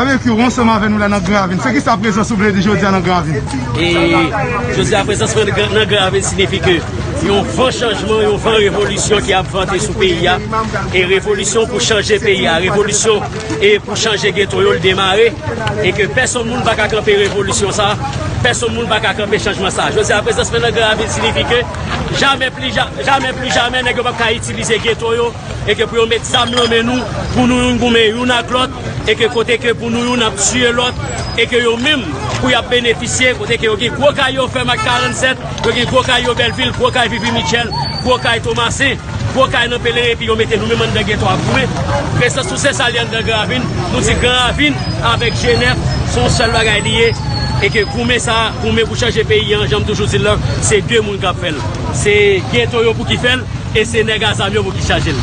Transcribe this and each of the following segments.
Barbecue, ou ansanm avè nou la nan Gran Ravin. Se ki sa prezans ou vle di jodi a nan Gran Ravin? E, jodi a prezans mwen nan Gran Ravin sinifi ke yon van chanjman, yon van revolisyon ki ap vante sou peyi a. E revolisyon pou chanje peyi a, revolisyon e pou chanje geto yo l demare. E ke pèsonn moun pa ka kanpe revolisyon sa, pèsonn moun pa ka kanpe chanjman sa. Jodi a prezans mwen nan Gran Ravin sinifi ke jamè pli, jamè pli jamè nèg yo pa p ka itilize geto yo. e ke pou yo met zam lan men nou pou nou youn goumen youn ak lòt e ke kote ke pou nou youn ap tiye lòt e ke yo menm pou yap benefisye kote ke yo gen gwo kay yo fèm ak 47 yo gen gwo kay yo bèlvil gwo kay vivi mitchèl gwo kay tomasen gwo kay nan pelerin epi yo mete nou menm anndan geto ap goumen presans nou se sa li anndan gran ravin nou di gran ravin avèk jenèf son sèl bagay li ye e ke goumen sa goumen pou chanje peyi an janm toujou di l lan se de moun kap fèl se geto yo pou ki fèl. E se nèg a zam yo pou ki chaje l.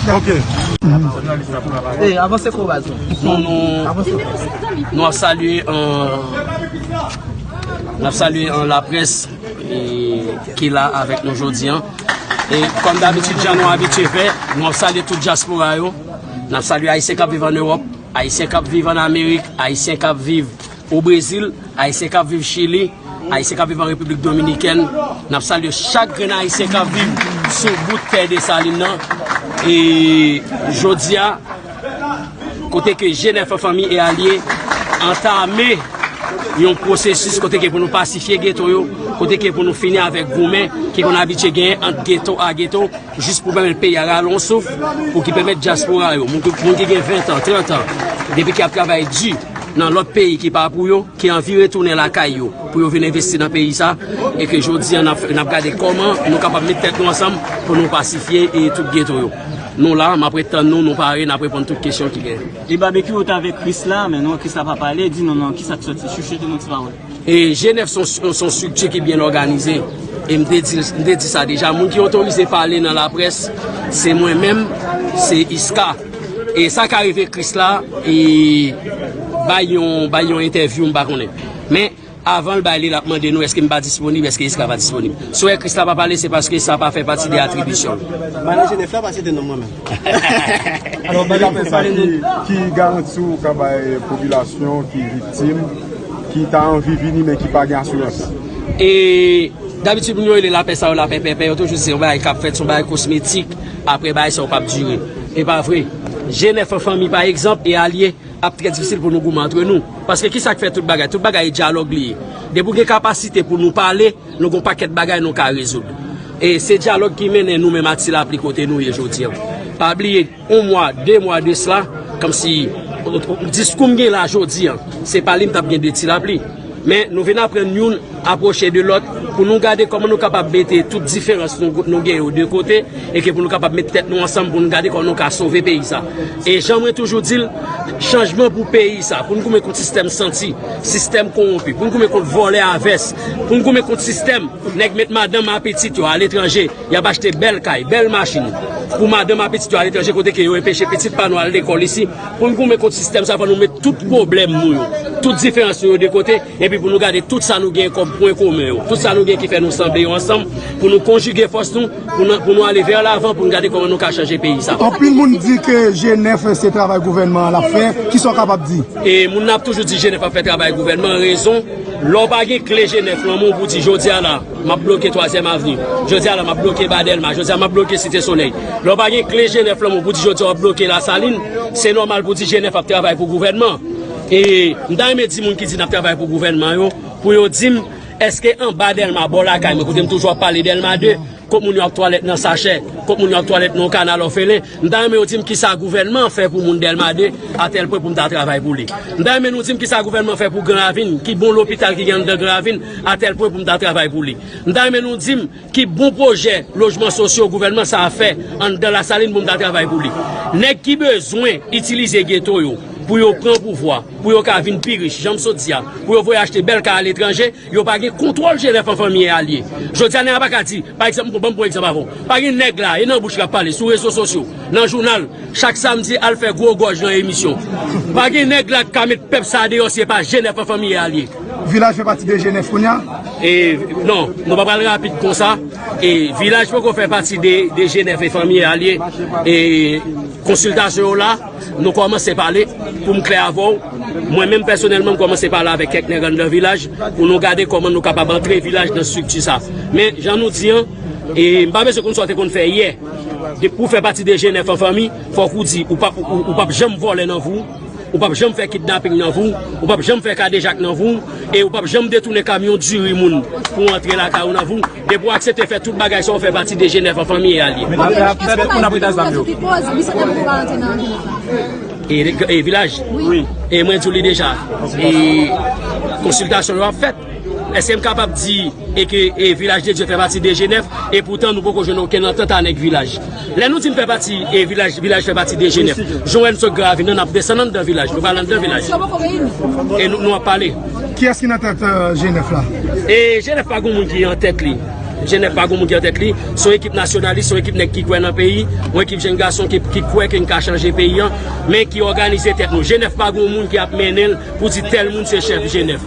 Nou ap salye Nou ap salye an la pres Ki la avèk nou jodi an E kòm dabitud jan nou abitye fè Nou ap salye tout jaspora yo Nou ap salye ayisyen kap viv an Ewòp Ayisyen kap viv an Amerik Ayisyen kap viv O Brezil, Ayisyen k ap viv Chili, Ayisyen k ap viv an Repiblik Dominikèn, n ap salye chak grenn Ayisyen k ap viv sou bout tè Desalin nan. E jodi a, kote ke G9 Fanmi e Alye antame yon pwosesis kote ke pou nou pasifye geto yo, kote ke pou nou fini avèk goumen ki konn abitye genyen ant geto a geto, Jis pou pèmèt peyi a rale yon souf, pou ki pèmèt dyaspora yo, moun ki gen ventan, trantan, depi ki ap travay di nan lòt peyi ki pa pou yo, ki anvi retounen lakay yo pou yo vin envesti nan peyi sa e ke jodi a n ap gade kòman nou kapab met tèt nou ansanm pou nou pasifye e tout geto yo. Nou la, m ap ret tann nou, nou pare, n ap reponn tout kesyon ki genyen. E Babekyou ou t avèk Krisla men non Krisla pa pale di nou non kisa k soti chuchote nou ti pawòl. E G9 son strikti ki byen òganize. E m te di sa deja. Moun ki otorize pale nan laprès, se mwen menm, se Iska. E sa ka rive Kris la, e bay yon entèvyou m pa konnen. Men, avan l bay li, l ap mande nou eske m pa disponib, eske Iska pa disponib. Si w wè Kris la pa pale, se paske sa pa fè pati de atribisyon l. Mwen ale G9 la pa site non mwen menm. Leta fè sa ki garanti ou ka bay popilasyon ki viktim, ki ta anvi vini men ki pa gen asirans? E dabitid moun yo rele lapè sa yo lapè pèpè, yo toujou di se yon bagay k ap fèt, se yon bagay kosmetik, apre bagay sa yo p ap dire. E pa vre. Je nèf an fanmi pa egzanp e alye ap trè difisil pou nou goumen antre nou. Paske ki sa k fè tout bagay? Tout bagay e dyalòg li ye. Depi ou gen kapasite pou nou pale. Nou gon pakèt bagay nou ka rezoud. E se dyalòg ki mennen nou menm ak Ti Lapli kote nou ye jodi an. Pa bliye, yon mwa, de mwa de sla, kòmsi, diskou m gen la jodi an, se pa li m t ap gen de Ti Lapli. Men, nou vin aprann youn apwoche de lòt pou nou gade kòman nou kapab mete tout diferans nou gen yo de kote e ke pou nou kapab met tèt nou ansanm pou nou gade kòman nou ka sove peyi sa. E jan mwen toujou di l, chanjman pou peyi sa, pou n goumen kont sistèm santi, sistèm kowonpi, pou n goumen kont vòlè a vès, pou n goumen kont sistèm nèg met madanm a pitit yo aletranje, y ap achte bèl kay, bèl machin pou madanm a pitit yo aletranje kote ke yo enpeche pitit pa nou al lekòl isi, pou n goumen kont sistèm sa fò nou met tout pwoblèm nou yo, tout diferans nou yo de kote. Epi pou nou gade tout sa nou gen kòm pwen komen yo, tout sa nou gen ki fè nou sanble yo ansanm, pou nou konjige fòs nou, pou nou ale vè lavan, pou nou gade kòman nou ka chanje peyi sa. Anpil moun di ke G9 se travay gouvènman an l ap fè, ki sa w kapab di? E moun nan ap toujou di G9 ap fè travay gouvènman an, rezon, lè w pa gen kle G9 lan men w pou di jodi a la, m ap bloke twazyèm avni, jodi a la m ap bloke ba Dèlma, jodi a m ap bloke site solèy, lè w pa gen kle G9 lan men w pou di jodi a w ap bloke Lasalin, se nòmal pou di G9 ap travay pou gouvènman an. E m ta renmen di moun ki di nap travay pou gouvènman yo pou yo di m eske anba Dèlma bò lakay mwen kote m toujou ap pale Dèlma 2 kot moun yo ap twalèt nan sachè kot moun yo ap twalèt nan yon kanal òfelen m ta renmen yo di m kisa gouvènman an fè pou moun Dèlma 2 a tèl pwen pou m ta travay pou li m ta renmen nou di m kisa gouvènman fè pou Gran Ravin ki bon lopital ki gen anndan Gran Ravin a tèl pwen pou m ta travay pou li m ta renmen nou di m. Ki bon pwojè lojman sosyo gouvènman sa a fè anndan Lasalin pou m ta travay pou li? Nèg ki bezwen itilize geto yo pou yo pran pouvwa, pou yo ka vin pi rich, jan m sot di a, pou yo voye achte bèl kay aletranje, yo pa gen kontwòl Jenèf an fanmi e alye. Jodi a nèg la pa ka di, pa egzanp, m pran, ban m pran egzanp avè w, pa gen nèg la, e nan bouch li ap pale, sou rezo sosyo, nan jounal, chak samdi al fè gwo gòj nan emisyon. Pa gen nèg la k ka met pèp sa a deyò si e pa Jenèf an fanmi e alye. Vilaj fè pati de Jenèv kounya? E, non, nou pa pral rapid konsa. E, Vilaj poko fè pati de Jenèv e fanmi a liye. E, konsiltasyon ou la, nou kòmanse pale pou m klè avè ou. Mwen menm pèsonèlman m kòmanse pale avè kèk nèg anndan Vilaj pou nou gade kòman nou kapab antre Vilaj nan strikti sa. Men, jan nou di an, e, m pa bezwen konn sa ou te konn fè yè. Depi ou fè pati de Jenèv an fanmi, fòk ou di ou pap janm vole nan vou. Ou pap janm fè kidnaping nan vi w, ou pap janm fè kadejak nan vi w, e ou pap janm detounen kamyon diri moun pou antre lakay ou nan vi w. Depi w aksepte fè tout bagay sa w fè pati de Jenèv an fanmi real ye. Mwen ap fè tout moun ap rete ansanm yo. E vilaj? E mwen di w li deja. E konsiltasyon yo ap fèt. Eske m kapab di e ke e Vilaj de Dye fè pati de Jenèv e poutan nou poko jwenn okenn antant anèk Vilaj? Lè nou di n fè pati e Vilaj, Vilaj fè pati de Jenèv. Jan wè n sot Gravin nan, n ap desann anndan Vilaj. Nou pral anndan Vilaj. E nou nou ap pale. Kiyès ki nan tèt Jenèv la? E Jenèv pa gon moun ki an tèt li. Jenèv pa gon moun ki an tèt li. S on ekip nasyonalis, s on ekip nèg ki kwè nan peyi. On ekip jenn gason ki ki kwè ke n ka chanje peyi an. Men ki òganize tèt nou. Jenèv pa gon moun ki ap mennen l pou di tèl moun se chèf Jenèv.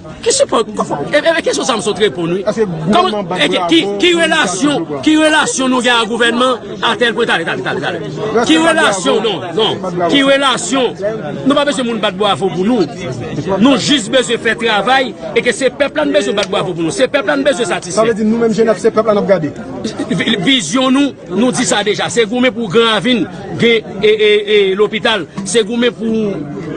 Ki sipò, e kesyon sa m sot reponn wi. Ki relasyon, ki relasyon nou gen ak gouvènman a tèl pwen, tale, tale, tale, tale. Ki relasyon, non, non, ki relasyon, nou pa bezwen moun bat bwavo pou nou. Nou jis bezwen fè travay, e ke se pèp la nou bezwen bat bwavo pou nou. Se pèp la nou bezwen satisfè. Sa vle di nou menm jenèf se pèp la n ap gade. Vizyon nou. Nou di sa deja, se goumen pou Gran Ravin gen lopital, se goumen pou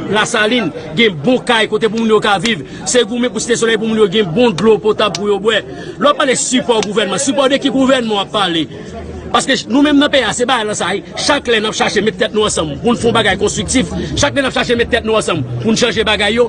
Lasalin gen bon kay kote pou moun yo ka viv, se goumen pou Site Solèy pou moun yo gen bon dlo potab pou yo bwè. Lè w ap pale sipò gouvènman, sipò de ki gouvènman w ap pale? Paske nou menm nan peyi a, se balanse sa a wi, chak lè n ap chache met tèt nou ansanm pou n fè yon bagay konstriktif, chak lè n ap chache met tèt nou ansanm pou n chanje bagay yo,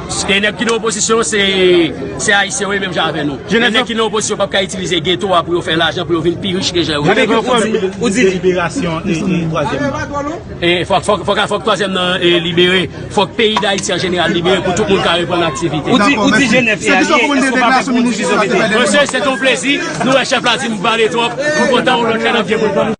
Gen nèg ki nan opozisyon se ayisyen yo ye menm jan avè nou. Gen nèg ki nan opozisyon pap ka itilize geto a pou yo fè lajan pou yo vin pi rich ke jan yo ye. Gen nèg ki nan opozisyon fòk twazyèm nan libere, fòk peyi dayiti an jeneral libere pou tout moun ka reprann aktivite. Ou di jenèf se alye, eske ou pa pè pou moun divize ou mete? Mesye se ton plezi, nou wè chèf la di m pale twòp, m kontan yon lòt lè n ap gen pou n pale.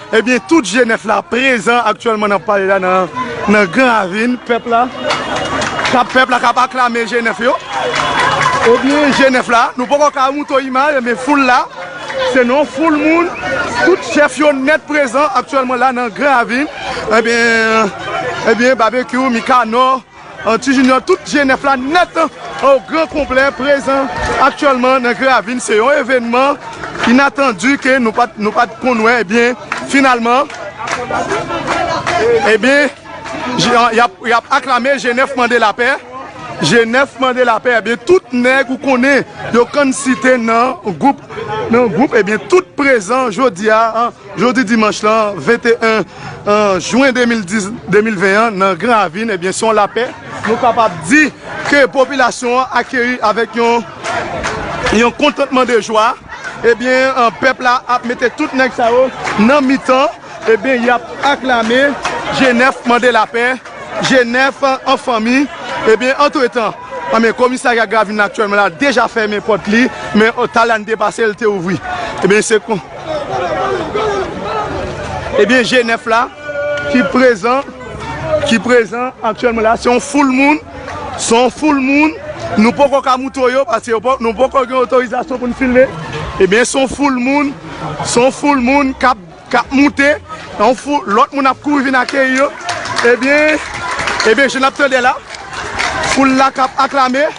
Ebyen tout jenès la prezan aktyèlman nan pale la nan gran ravin pèp la kap pèp la kap aklame jenès yo ebyen jenès la nou poko ka mouton imaj ebyen foul la se nan yon foul moun tout chèf yo nèt prezan aktyèlman la nan gran ravin ebyen ebyen babekyou mikanò. Ti Junior tout je nèf la nèt o gran konplè prezan aktyèlman nan Gravin se yon evènman inatandi ke nou pat nou pat konn wè ebyen finalman ebyen yap aklame je nèf mande lapè je nèf mande lapè ebyen tout nèg ou konnen yo konn site nan gwoup ebyen tout prezan jodia. Jodi dimanch lan 21 jwen 2020 an nan Gran Ravin ebyen se yon lapè nou kapab di ke popilasyon an akeyi avèk yon kontantman de jwa ebyen pèp la ap mete tout nèg sa yo nan mitan ebyen y ap aklame Jenèf mande lapè Jenèf an fanmi ebyen antretan ebyen komisarya Gravin aktyèlman la deja fèmen pòt li men talè ane te pase li te ouvri ebyen se. Ebyen je 9 la ki prezan ki prezan aktyèlman la se yon foul moun se yon foul moun nou poko ka moutre yo paske nou poko gen otorizasyon pou n filme ebyen se yon foul moun se yon foul moun k ap moute yon foul lòt moun ap kouri vin akeyi yo ebyen ebyen jan n ap tande la foul la k ap aklame.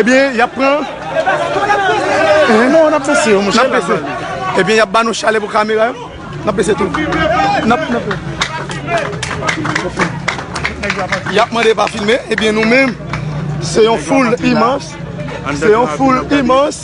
Ebyen yap pran Non nap pese yo monchè Nap pese Ebyen yap ba nou chale pou kamera yo Nap pese tou Nap pese Yap mande pa filme Ebyen nou menm Se yon foul imans Se yon foul imans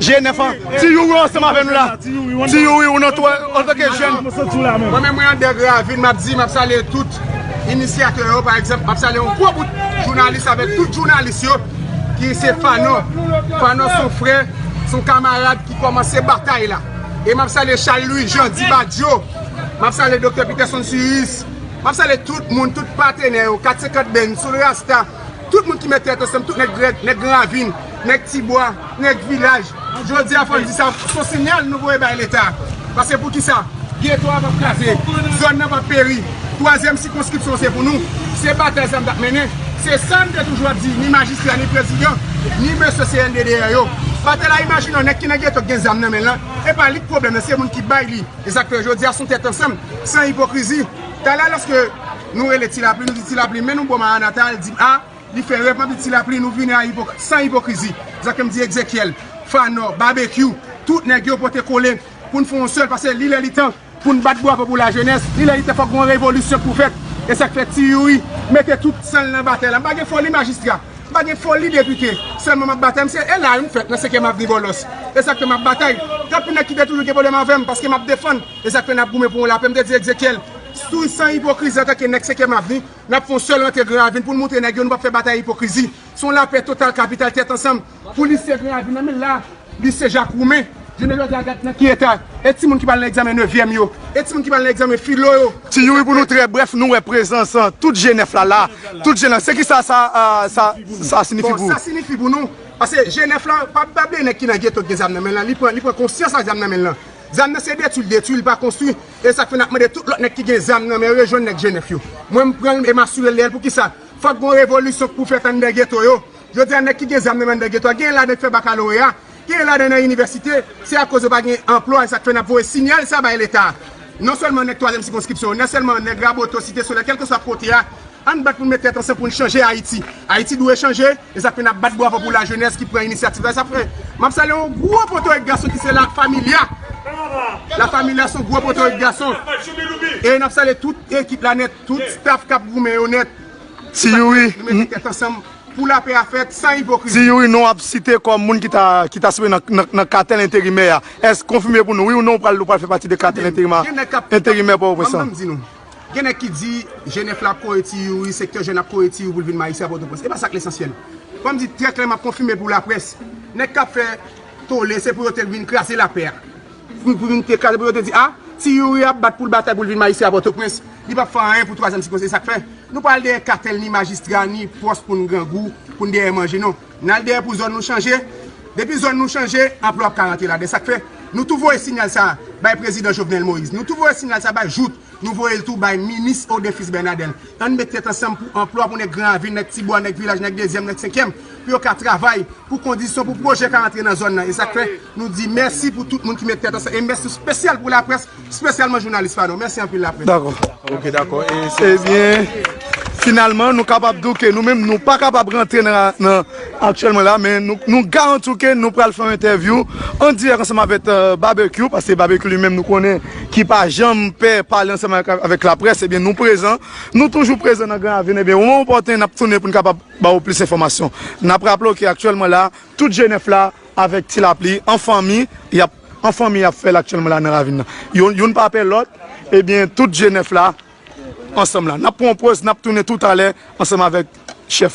Jé 9 an. Ti Youri ou ansanm avè nou la? Ti Youri ou nan tou antanke jèn? Mwen santi w la menm. Mwen menm mwen Ander Gravin map di map salye tout inisyatè yo pa egzanp map salye yon gwo bout jounalis avèk tout jounalis yo ki se Fano Fano son frè son kamarad ki kòmanse batay la e map salye Charles Louis Jean Di Badio map salye Doktè Peterson Suris map salye tout moun tout patenè yo 450 band Soul Rasta tout moun ki met tèt ansanm tout nèg Gravin. Nèg ti bwa, nèg vilaj, jodi a fò n di sa, s on sinyal nou voye bay Leta. Pase pou ki sa? Geto a p ap kraze, zòn nan p ap peri, twazyèm sikonskripsyon se pou nou. Se batay sa m t ap mennen, se sa m te toujou ap di, ni majistra, ni prezidan, ni mesye CNDDR yo. Batela imajine yon nèg ki nan geto ki gen zam nan men l lan, e pa li k pwoblèm nan, se moun ki bay li. E sa k fè jodi a s on tèt ansanm, san ipokrizi. Talè lòske nou rele Tilapli, nou di Tilapli men nou bo Maranata, l di m a. Li fè rèv anpi ti lapli nou vini a san ipokrizi. Sa ke m di Exekiel, Phanor, Babekyou, tout nèg yo pote kole pou n fè yon sèl pase li lè li tan pou n bat bwavo pou lajenès. Li lè li tan fòk gen yon revolisyon k pou fèt. E sa k fè Ti Youri mete tout san l nan batay la. M pa gen foli majistra. M pa gen foli depite. Sèlman m ap batay. M se ela a wi m fèt nan senkyèm avni Bòlòs. E sa k fè m ap batay. Tanpri nèg ki te toujou gen pwoblèm avè m paske m ap defann. E sa k fè n ap goumen pou yon lapè. M te di Exekiel, sou san ipokrizi antanke nèg senkyèm avni. Nap fon sèl rantre gran ravin poun moutre nèg yo nou pap fè batay ipokrizi son lapè total kapital tèt ansanm pou lise gran ravin nan men la lise jak roumen jounen jodya gad nan ki eta e timoun ki pral nan egzamen nevyèm yo e timoun ki pral nan egzamen filo yo Ti youri pou nou trè brèf nou wè prezans tout je nèf la la tout je nèf se kisa sa sa sinifi pou ou. Bon sa sinifi pou nou pase je nèf la pa pa bliye nèg ki nan geto ki gen zam nan men lan li pran li pran konsyans ak zam nan men lan zam nan se detwil detwil pa konstwi Esak fè nap mande tout lòt nèg ki gen zam nan men yo rejwenn nèg Jenèf yo. Mwen m pranl e m asurel de l poukisa? Fòk gon revolisyon k pou fèt anndan geto yo. Jodi a nèg ki gen zam nan men anndan geto a genyen ladan ki fè bakaloreya, genyen ladan nan inivèsite, se akoz yo pa gen anplwa esak fè nap voye sinyal sa bay leta a. Non sèlman nèg twazyèm sikonskripsyon yo, nan sèlman nèg Raboto, Site Solèy, kèlkeswa kote a, ann bat pou n met tèt ansanm pou n chanje Ayiti. Ayiti dwe chanje. Exactly nap bat bwavo pou la jenes ki pran inisyativ la sa fre map salye yon gwo potorik gason ki se la familia la familia son gwo potorik gason e nap salye tout ekip la net tout staff kap goumen yo net ti youri nou mete tet ansanm pou la pè a fet san ipokrizi. Ti youri non ap site kom moun ki ta ki ta sibi nan katel enterimè a esk konfime pou nou wi ou non ou pral ou pral fè pati de katel enterimè enterimè potoprens lan. Gen nèg ki di jenèf la ap kore ti youri, sektè jèn ap kore ti youri pou l vin majistra Pòtoprens. E pa sa k lesansyèl. Fò m di trè klè, m ap konfime pou laprès, nèg k ap fè tole se pou yo te vin kraze lapè a. Pou vin te kraze, pou yo te di a, ti youri ap bat pou l batay pou l vin majistra Pòtoprens. Li pap fè anyen pou twazyèm sikonseye. Sa k fè nou pa al dèyè katèl ni majistra ni pòs pou n grangou, pou n dèyè manje non. N al dèyè pou zòn nou chanje, depi zòn nou chanje, anplwa ap ka rantre ladan. Sa k fè, nou tou voye sinyal sa a bay prezidan Jovenel Moïse. Nou tou voye sinyal sa a bay Jouthe. Nou voye l tou bay minis Odin Fils Bernadel. An n met tèt ansanm pou anplwa pou nèg Gran Ravin, nèg Ti Bwa, nèg Vilaj, nèg Dezyèm, nèg Senkyèm, pou yo ka travay, pou kondisyon, pou pwojè ka rantre nan zòn nan. E sa k fè, nou di mèsi pou tout moun ki met tèt ansanm. E mèsi spesyal pou laprès. Spesyalman jounalis pa nou. Mèsi anpil laprès. Dakò. Ok dakò. Ebyen finalman nou kapab di w ke nou menm nou pa kapab rantre nan aktyèlman la men nou garanti w ke nou pral fè yon entèvyou an dirèk ansanm avèk Babekyou paske Babekyou li menm nou konnen ki pa janm pè pale ansanm avèk laprès ebyen nou prezan nou toujou prezan nan Gran Ravin ebyen moman opòten n ap tounen pou n kapab ba ou plis enfòmasyon. N ap raple w ke aktyèlman la tout Jenèf la avèk Ti Lapli an fanmi y ap. 1 fanmi ap fèl aktyèlman la nan ravin nan yo youn pa pè lòt ebyen tout je 9 la ansanm la nap pran yon poz nap tounen toutalè ansanm avèk chèf.